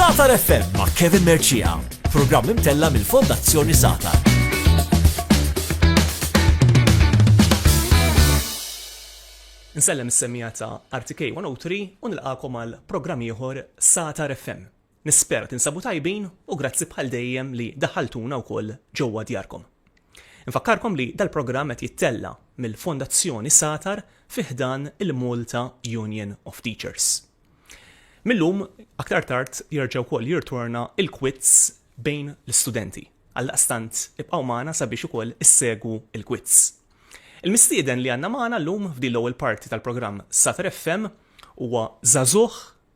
Satar FM ma' Kevin Merċija, programm imtella mill-Fondazzjoni Satar. Nsellem is-semija ta' RTK 103 u nilqakom għal programm ieħor Satar FM. Nispera tinsabu tajbin u grazzi bħal dejjem li daħħaltuna wkoll ġewwa djarkom. Infakkarkom li dal-programm qed jittella' mill-Fondazzjoni Satar fi ħdan il-Malta Union of Teachers. Mil-lum aktar tard jerġa' wkoll jirtorna il-Quiz bejn l-istudenti. Għaldaqstant ibqgħu magħna sabiex ukoll issegwu l-Quiz. Il-mistieden li għandna magħna llum f'din l-ewwel parti tal-programm Satar FM huwa żagħżugħ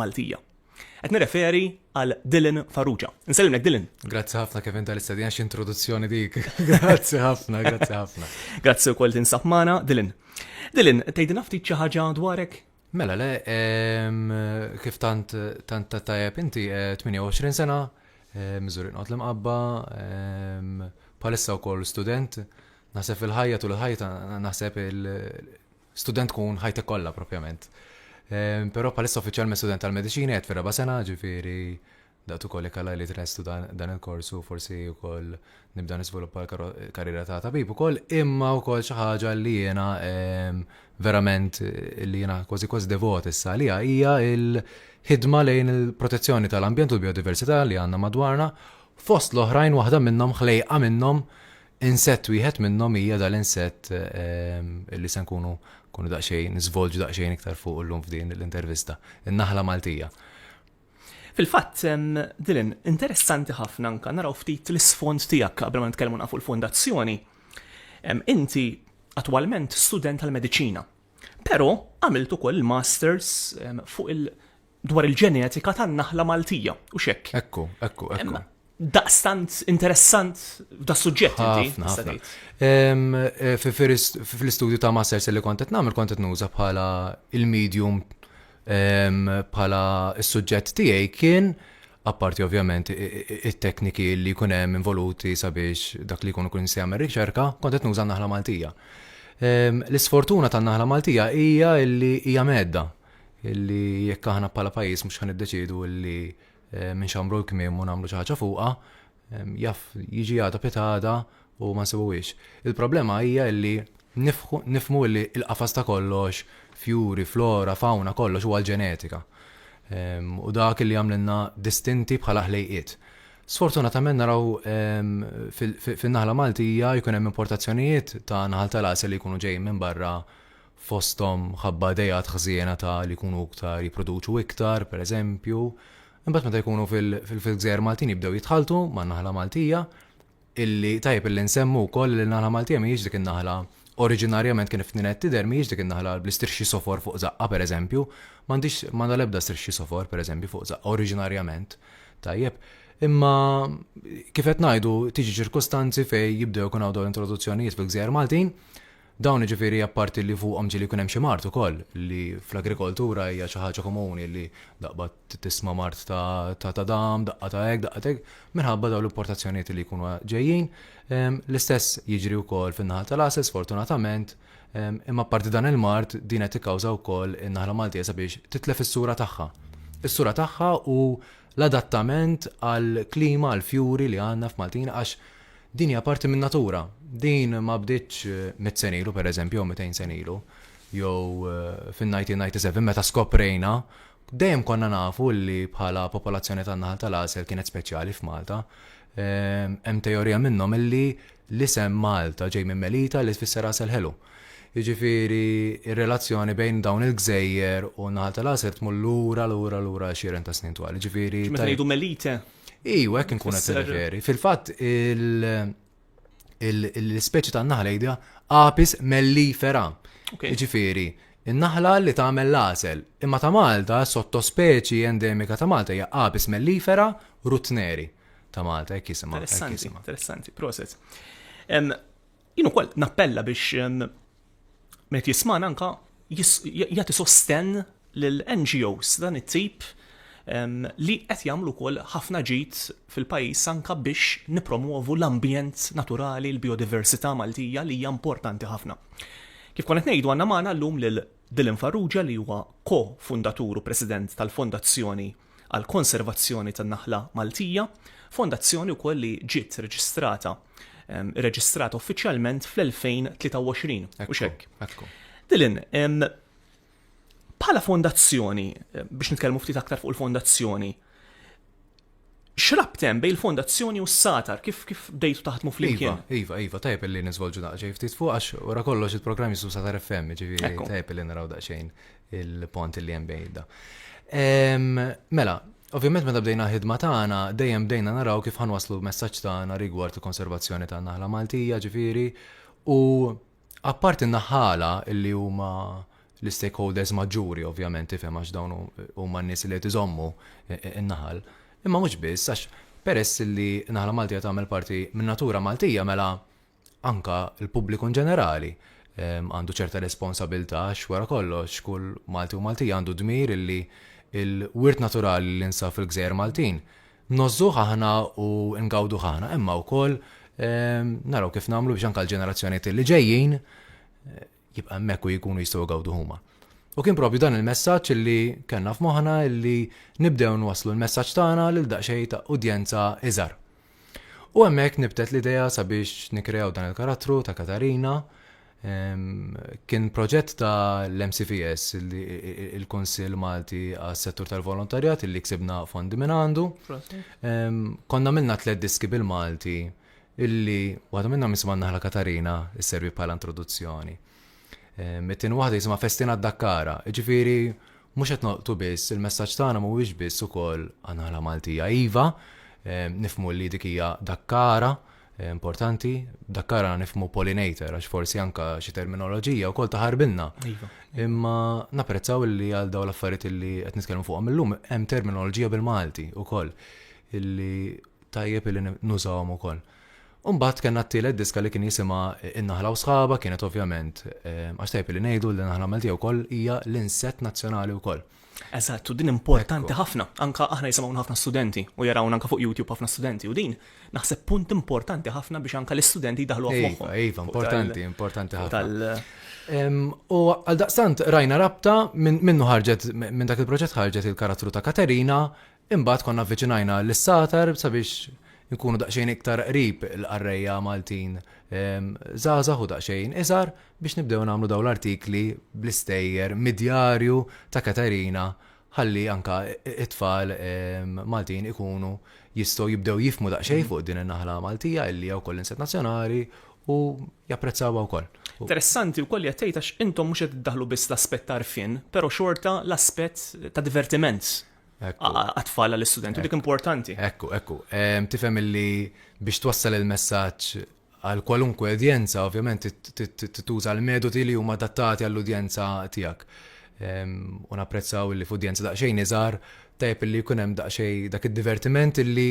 Maltija. Qed nirreferi għal Dylan Farrugia. Nsellimlek Dylan. Grazzi ħafna Kevin tal-istedina x'introduzzjoni dik. Grazzi ħafna, grazzi ħafna. Grazzi wkoll tinsab magħna Dylan. Dylan, tgħidilna ftit xi ħaġa dwarek? Mela le, kif tant tant tajjeb inti 28 eh, sena, eh, miżuri nqot l-imqabba, palissa wkoll student, naħseb il-ħajja tul il-ħajja naħseb il- student tkun ħajtek kollha propjament. Ehm, però bħalissa uffiċjalment student tal-mediċina qed fir-raba' sena, ġifieri daqt ukoll jekk li trestu dan il-kors u forsi wkoll nibda nisviluppa l-karriera ta' tabib ukoll, imma wkoll xi ħaġa li jiena ehm, verament li jiena kważi kważi devot issa li hija il-ħidma lejn il-protezzjoni tal-ambjent u l-biodiversità li għandna madwarna fost l-oħrajn waħda minnhom ħlejqa minnhom Insett wieħed minnhom hija dal-insett li se nkunu nkunu daqsxejn niżvolġu daqsxejn iktar fuqu llum f'din l-intervista, in-naħla Maltija. Fil-fatt, Dylan, interessanti ħafna anke naraw ftit l-isfond tiegħek qabel ma nitkellmu nafu l-fondazzjoni. Inti attwalment student tal-mediċina, però għamilt ukoll il-masters fuq dwar il-ġenetika tan-naħla Maltija u xekk. Ekku, ekku, ekku. Daqstant interessant da suġġett inti. Eh, fil-istudju ta' Masters li kontet namel kontet nuża bħala il-medium bħala il-suġġett tiegħi kien apparti ovvjament it-tekniki li jkun hemm involuti sabiex dak li jkunu kun se jagħmel riċerka, kontet nuża naħla Maltija. L-isfortuna tan-naħla Maltija hija li hija medda illi jekk aħna bħala pajjiż mhux ħan iddeċiedu illi eh, minn xamru l-kmiem u nagħmlu xi ħaġa fuqha, jaf jiġi għada pitada u ma nsibuwiex. Il-problema hija illi nifmu illi il-qafas ta' kollox, fjuri, flora, fauna, kollox huwa l-ġenetika. U dak illi għamlinna distinti bħala ħlejqiet. Sfortunatament naraw fin-naħla Maltija jkun hemm importazzjonijiet ta' naħal tal-għasel li jkunu ġejjin minn barra fosthom mħabba ideat ħżiena ta' li jkunu iktar jipproduċu iktar, pereżempju. Imbagħad meta jkunu fil-gżejjer Maltin jibdew jitħalltu man-naħla Maltija, illi tajjeb illi nsemmu wkoll li n-naħla Maltija mhijiex dik in-naħla oriġinarjament kien f'Ninette tidher mhijiex dik in-naħla bl-istrixxi sofor fuq żaqqha pereżempju, m'għandhiex m'għandha l-ebda strixxi sofor pereżempju fuq żaqqha oriġinarjament. Tajjeb. Imma kif qed ngħidu tiġi ċirkustanzi fejn jibdew ikun hawn dawn l-introduzzjonijiet fil-gżejjer Maltin, Dawn jiġifieri apparti li fuqhom ġieli jkun hemm xi mard ukoll li fl-agrikoltura hija xi ħaġa komuni li daqba tisma' mard ta' ta' dam, daqqa ta' hekk, daqqa ta' hekk, minħabba dawn l-importazzjonijiet li jkunu ġejjin. L-istess jiġri wkoll fin-naħa tal-għasel sfortunatament, imma apparti dan il-mard din qed tikkawża wkoll in-naħla Maltija sabiex titlef is-sura tagħha. Is-sura tagħha u l-adattament għall-klima, għall-fjuri li għandna f'Maltin għax Din hija parti min-natura. Din ma bdietx mitt sena ilu, pereżempju, jew mitejn sena ilu, jew fin-1997 meta skoprejna dejjem konna nafu li bħala popolazzjoni tan-naħal tal-għasel kienet speċjali f'Malta. Hemm teorija minnhom li l-isem Malta ġej minn Melita li tfisser għasel ħelu. Jiġifieri r-relazzjoni bejn dawn il-gżejjer u n-naħal tal-għasel tmur lura lura lura għexieren ta' snin twal. Jiġifieri. Meta ngħidu Melita, Iju, hekk inkun qed nirreferi. Fil-fatt l-ispeċi tan-naħla jidha apis mellifera. Ġifieri, in-naħla li tagħmel l-għasel. Imma ta' Malta, sottospeċi endemika ta' Malta hija apis mellifera rutneri ta' Malta, hekk jisimha. Interessanti, interessanti, proset. Jien ukoll nappella biex meta jisman anka jagħti sosten lil NGOs dan it-tip li qed jagħmlu wkoll ħafna ġid fil-pajjiż anka biex nippromwovu l-ambjent naturali, l-biodiversità Maltija li hija importanti ħafna. Kif kont qed ngħidu għandna magħna llum lil Dylan Farrugia li huwa ko-fundatur u President tal-Fondazzjoni għall-Konservazzjoni tan-Naħla Maltija, fondazzjoni wkoll li ġiet reġistrata irreġistrata uffiċjalment fl-2023, mhux hekk? Ekku. Dylan, bħala fondazzjoni, biex nitkellmu ftit aktar fuq il-fondazzjoni, X'rabt hemm bejn il-fondazzjoni u s-satar? Kif kif bdejtu taħdmu flimkien? Iva, iva, iva, tajb li niżvolġu daqsxejn ftit fuq għax wara kollox il-programm jismu satar FM, ġifieri tajb li naraw daqsxejn il-pont li hemm bejn da. Mela, ovvjament meta bdejna ħidma tagħna dejjem bdejna naraw kif ħanwaslu messaġġ tagħna rigward il-konservazzjoni tan-naħla Maltija, ġifieri, u Apparti n-naħħala li huma l-istakeholders maġġuri ovvjament tifhem għax dawn huma n-nies li qed iżommu n-naħal. Imma mhux biss għax peress li n-naħla Maltija tagħmel parti min-natura Maltija mela anke l-pubbliku inġenerali għandu ċerta responsabilità għax wara kollox kull Malti u Maltija għandu d-dmir li l-wirt naturali li nsab fil-gżejjer Maltin Ngħożżuh aħna u ngawduh aħna, imma wkoll naraw kif nagħmlu biex anke l-ġenerazzjonijiet li ġejjin jibqa' hemmhekk u jkunu jistgħu jgawdu huma. U kien propju dan il-messaġġ li kellna f'moħħna li nibdew nwasslu l-messaġġ tagħna lil daqsxejn ta' udjenza iżgħar. U hemmhekk nibtet l-idea sabiex nikreaw dan il-karattru ta' Katarina Kien proġett ta' l-MCVS, il-Konsil Malti għas-settur tal-volontarjat, li ksibna fondi minn għandu. Konna minna tlet diski bil-Malti, illi waħda minna misma naħla Katarina, s-servi bħala introduzzjoni. Mittin waħda jisma festina d-dakkara, ġifiri, mux qed noqtu biss, il-messagġ tagħna mhuwiex biss ukoll għanħala Maltija. Iva, nifmu li dikija dakkara, importanti, dakkara nifmu pollinator, għax forsi anka xi terminoloġija u kol taħarbilna. Iva. Imma naprezzaw li għal daw l-affarijiet li qed nitkellmu fuqhom illum hemm terminoloġija bil-Malti ukoll illi tajjeb illi nużawhom ukoll. Umbat kena t-tielet diska li kien jisima Innaħla u sħaba kienet ovvjament, eh, għax tajb li nejdu li naħla Malti u koll hija l-inset nazjonali u koll. Eżatt, u din importanti ħafna. Anka aħna jisimgħu ħafna studenti u jarawna anka fuq YouTube ħafna studenti u din naħseb punt importanti ħafna biex anka l-istudenti jdaħlu iva, fuq. Iva, importanti, importanti ħafna. U għal daqstant rajna rabta minnu ħarġet minn dak il-proġett ħarġet il-karattru ta' Katerina Imbagħad konna avviċinajna lis-Satar sabiex inkunu daqsxejn iktar qrib il-qarrejja Maltin żgħażagħ u daqsxejn iżgħar biex nibdew nagħmlu dawn l-artikli bl-istejjer mid-djarju ta' Katerina ħalli anke t-tfal Maltin ikunu jistgħu jibdew jifhmu daqsxejn fuq din in-naħla Maltija illi hija wkoll insett nazzjonali u japprezzawha wkoll. Interessanti wkoll li qed tgħid għax intom mhux qed iddaħħlu biss l-aspett ta' għarfien, però xorta l-aspett ta' divertiment. għat-tfal għall-istudenti, dik importanti. Ekku, ekku. Tifhem illi biex twassal il-messaġġ għal kwalunkwe udjenza, ovvjament tituża l-metodi li huma adattati għall-udjenza tiegħek. U napprezzaw li f'udjenza daqsxejn iżgħar tajb li jkun hemm daqsxejn dak id-divertiment illi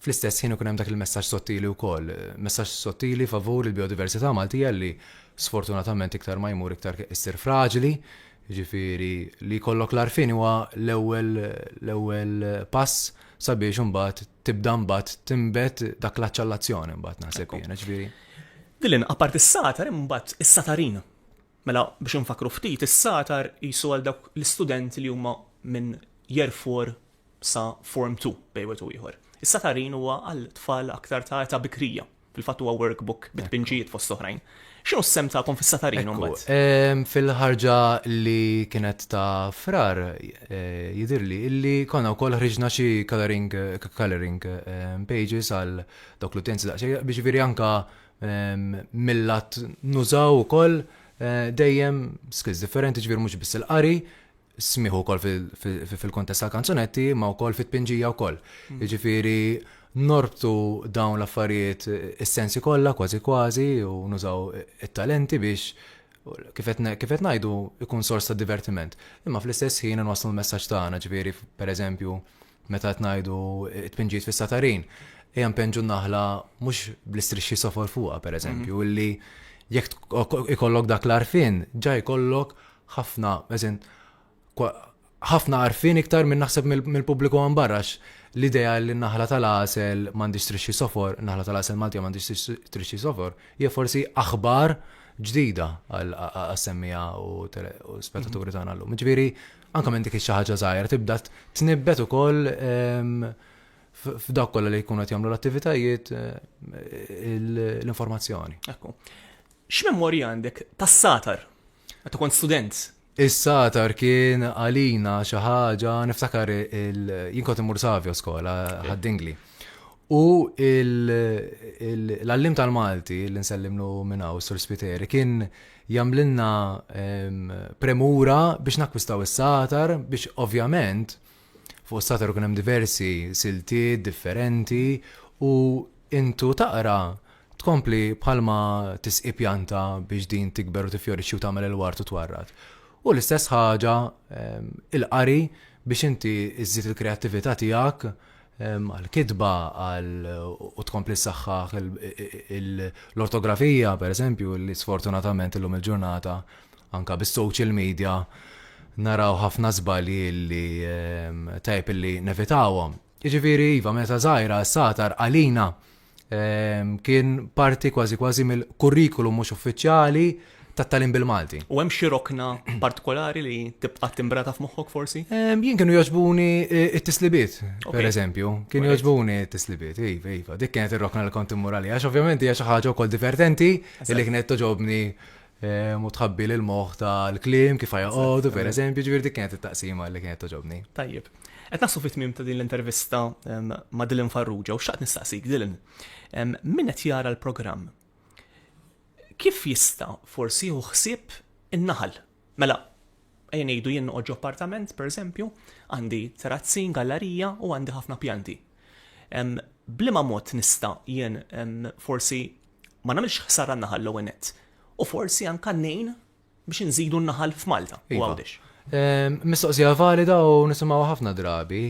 Fl-istess ħin ikun hemm dak il-messaġġ sottili wkoll, messaġġ sottili favur il-bijodiversità Maltija li sfortunatament iktar ma jmur iktar issir fraġli, jiġifieri li jkollok l-għarfien huwa l-ewwel l-ewwel pass sabiex imbagħad tibda mbagħad tinbet dak l-għatx għall-azzjoni mbagħad naħseb jiena, jiġifieri. Dylan, apparti s-satar hemm imbagħad is-satarin. Mela biex infakkru ftit, is-sagħtar qisu għal dawk l-istudenti li huma minn Year Four sa Form Two bejn wieħed u ieħor. Is-sagħtarin huwa għal tfal aktar ta' età bikrija. Fil-fatt huwa workbook bi tpinġijiet fost oħrajn. X'inhu s-sehem tagħkom fis-sagħtarin imbagħad? Ekku, fil-ħarġa li kienet ta' Frar jidhirli illi konna wkoll ħriġna xi colouring colouring pages għal dawk l-utjenzi daqsxejn, jiġifieri anke Millat nużaw ukoll eh, dejjem skills differenti ġvir mhux biss il-qari, smiħu ukoll fil-kontest tal-kanzunetti, ma wkoll fit-tpinġija wkoll. Mm. Ġifieri norbtu dawn l-affarijiet is-sensi kollha kważi kważi u nużaw it-talenti biex kifet ngħidu ikun sors ta' divertiment. Imma fl-istess ħin nwaslu l-messaġġ tagħna, ġifieri pereżempju Meta qed ngħidu t-tpinġijiet fis-satarin, ejja npenġu n-naħla mhux bl-istrixxi sofor fuqha pereżempju, mhm. illi jekk ikollok dak l-arfin, ġa jkollok ħafna, eżin, ħafna arfin iktar minn naħseb mill-pubbliku għan barrax l-idea li naħla tal-asel mandi strixxi sofor, naħla tal-asel Malti mandi strixxi sofor, hija forsi aħbar ġdida għal-semmija u spettaturi tagħna llum. Ġifieri Anke minn dik xi ħaġa żgħira tibda tnibbet ukoll f'dak kollha li jkunu qed jagħmlu l-attivitajiet l-informazzjoni. Ekku. X'memorja għandek tas-satar? Meta kont student? Is-satar kien għalina xi ħaġa niftakar jien kont imur Savio skola ħaddingli. U l-allim tal-Malti li nsellimlu minn hawn Sur Spiteri kien Jagħmlilna premura biex nakkwistaw is-satar biex ovvjament fuq is-satar ikun hemm diversi siltiet differenti u intu taqra tkompli bħalma tisqi pjanta biex din tikber u tiffjorixxi u tagħmel il-wart u twarrad. U l-istess ħaġa il-qari biex inti żżid il-kreattività tiegħek għall-kitba, għal u tkompli ssaħħaħ l-ortografija, pereżempju, li sfortunatament illum il-ġurnata anka bis-social media naraw ħafna żbalji li tajb li nevitawhom. Jiġifieri iva meta żgħira s-satar għalina ehm, kien parti kważi kważi mill-kurrikulum mhux uffiċjali tat-talim bil-Malti. U hemm xi rokna partikolari li tibqa' timbrata f'moħħok forsi? Ehm, jien kienu jogħġbuni eh, it-tislibiet, per eżempju. Kienu jogħġbuni it-tislibiet, iva, iva. Dik kienet ir-rokna li kont immur għalija, għax ovvjament hija xi ħaġa wkoll divertenti li kienet toġobni Ehm, u tħabbi l moħħ ta' l-klim kif joqogħdu, per eżempju, ġifieri dik kienet it-taqsima li kienet toġobni. Tajjeb. Qed nasu fit-tmiem ta' din l-intervista ehm, ma' Dylan Farrugia u xaqt nistaqsik Dylan. Ehm, min qed jara l-programm? Kif jista' forsi hu ħsieb in-naħal? Mela, ejja ngħidu jien noqgħod appartament, per eżempju, għandi terrazzin, gallerija u għandi ħafna pjanti. Blima mod nista' jien forsi ma nagħmilx ħsara n-naħal l-ewwel nett. U forsi anka ngħin biex inżidu n-naħal f'Malta u iva. Għawdex. Ehm, mistoqsija valida u nisimgħu ħafna drabi.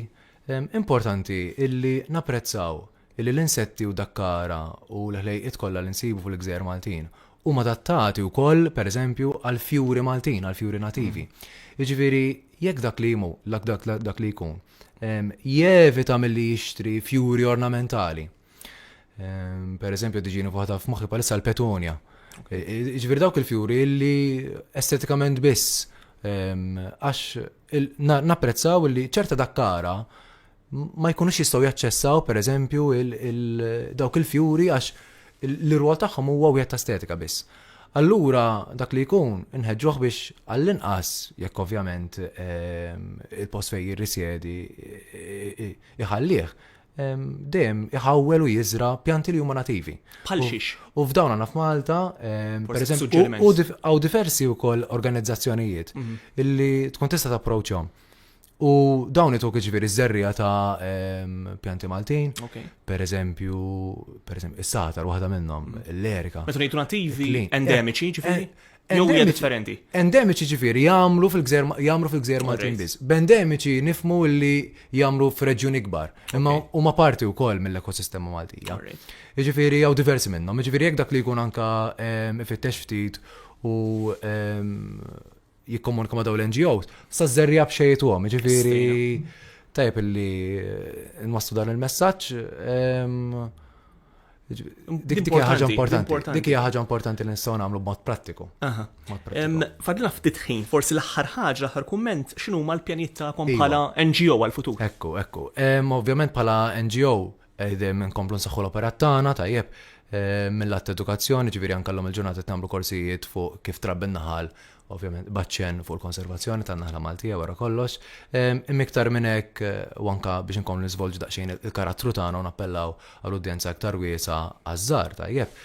Ehm, importanti illi napprezzaw illi l-insetti u dakkara u l-ħlejqiet kollha li nsibu fil-gżejjer Maltin huma adattati wkoll pereżempju għal fjuri Maltin, għal fjuri nativi. Mm. Jiġifieri jekk dak li jmu, dak li jkun, ehm, jevita milli jixtri fjuri ornamentali Ehm, per eżempju, diġini fuħata f'moħħi palissa l-petonja. E, e, ġvir dawk il-fjuri li estetikament biss, ehm, għax napprezzaw li ċerta dakkara ma jkunux jistaw jaċċessaw, per eżempju, dawk il-fjuri għax l-rwol tagħhom huwa wieħed ta' estetika biss. Allura dak li jkun inħeġġuh biex għall-inqas jekk ovvjament ehm, il-post fejn jirrisjedi iħallih dejjem iħawwel u jiżra pjanti li huma nativi. Bħal xiex. U f'dawn għandna f'Malta, per eżempju, u għaw diversi wkoll organizzazzjonijiet mhm. illi tkun tista' tapproċċhom. U dawn ituk ġifieri iż-żerrija ta' pjanti Maltin, per eżempju, per eżempju, is-satar waħda minnhom, mhm. l-erika. Meta ngħidu nativi endemiċi, ġifieri? Eh, Jew hija differenti. Endemiċi ġifieri jagħmlu fil-gżer jagħmlu fil-gżer Maltin biss. B'endemiċi nifmu li jagħmlu f'reġjun ikbar. Imma huma parti wkoll mill-ekosistema Maltija. Ġifieri jew diversi minnhom. Ġifieri jekk dak li jkun anka ehm, ifittex ftit u ehm, jikkomunika ma' daw l-NGOs, sa żerja b'xejtu għom, ġifieri tajb li eh, nwastu dan il-messaġġ. Ehm, Dik hija ħaġa importanti. Dik hija ħaġa importanti li nistgħu nagħmlu b'mod prattiku. Fadlina ftit ħin, forsi l-aħħar ħaġa, l-aħħar kumment, x'inhu ma l-pjanijiet tagħkom iva. bħala NGO għal-futur? Ekku, ekku. Ovvjament bħala NGO qegħdin nkomplu nsaħħu l-operat tagħna tajjeb mill-att edukazzjoni, ġifieri anke llum il-ġurnata tagħmlu korsijiet fuq kif trabbi naħal ovvjament baċċen fuq il-konservazzjoni tan-naħla Maltija wara kollox. Imiktar minn hekk u anka biex inkomplu niżvolġu daqsxejn il-karattru tagħna u nappellaw għal udjenza iktar wiesa għaż-żgħar tajjeb.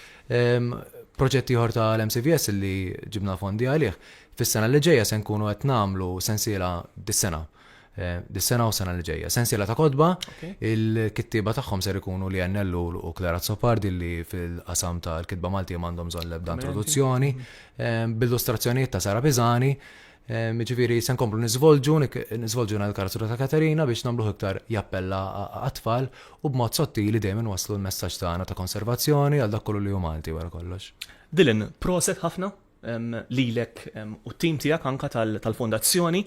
Proġett ieħor ta' l-MCVS li ġibna fondi għalih, fis-sena li ġejja se nkunu qed nagħmlu sensiela dis-sena Eh, dis-sena u sena li ġejja. Sensiela ta' kodba, il-kittiba tagħhom ser ikunu li għennellu u Klara Zopardi li fil-qasam ta' l-kitba Malti għandhom bżonn l-ebda introduzzjoni, eh, bil-illustrazzjonijiet ta' Sara Bizani, eh, ġifiri sen komplu nizvolġu, nizvolġu na l-karattru ta' Katerina biex namluħ iktar jappella għatfall u b'mod sottili dejjem waslu l-messaġġ tagħna ta' konservazzjoni għal dak kollu li hu Malti wara kollox. Dylan, proset ħafna lilek u t-tim tiegħek anka tal-fondazzjoni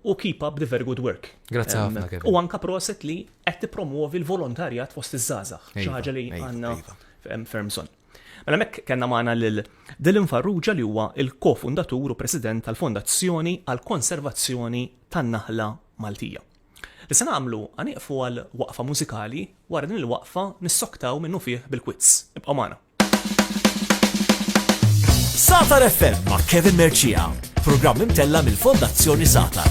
u keep up the very good work. Grazzi ħafna. U anka proset li qed tippromuovi l-volontarjat fost iż-żgħażagħ, xi iva, ħaġa li iva, għandna iva. fermson. Mela mek kellna magħna lil Dylan Farrugia li huwa il-kofundatur u president tal-Fondazzjoni għal konservazzjoni tan-naħla Maltija. Li se nagħmlu għaniqfu għal waqfa mużikali wara din il-waqfa nissoktaw minnu fih bil-kwizz. Ibqa' magħna. Satar FM ma' Kevin Merċija, programm imtella mill-Fondazzjoni Satar.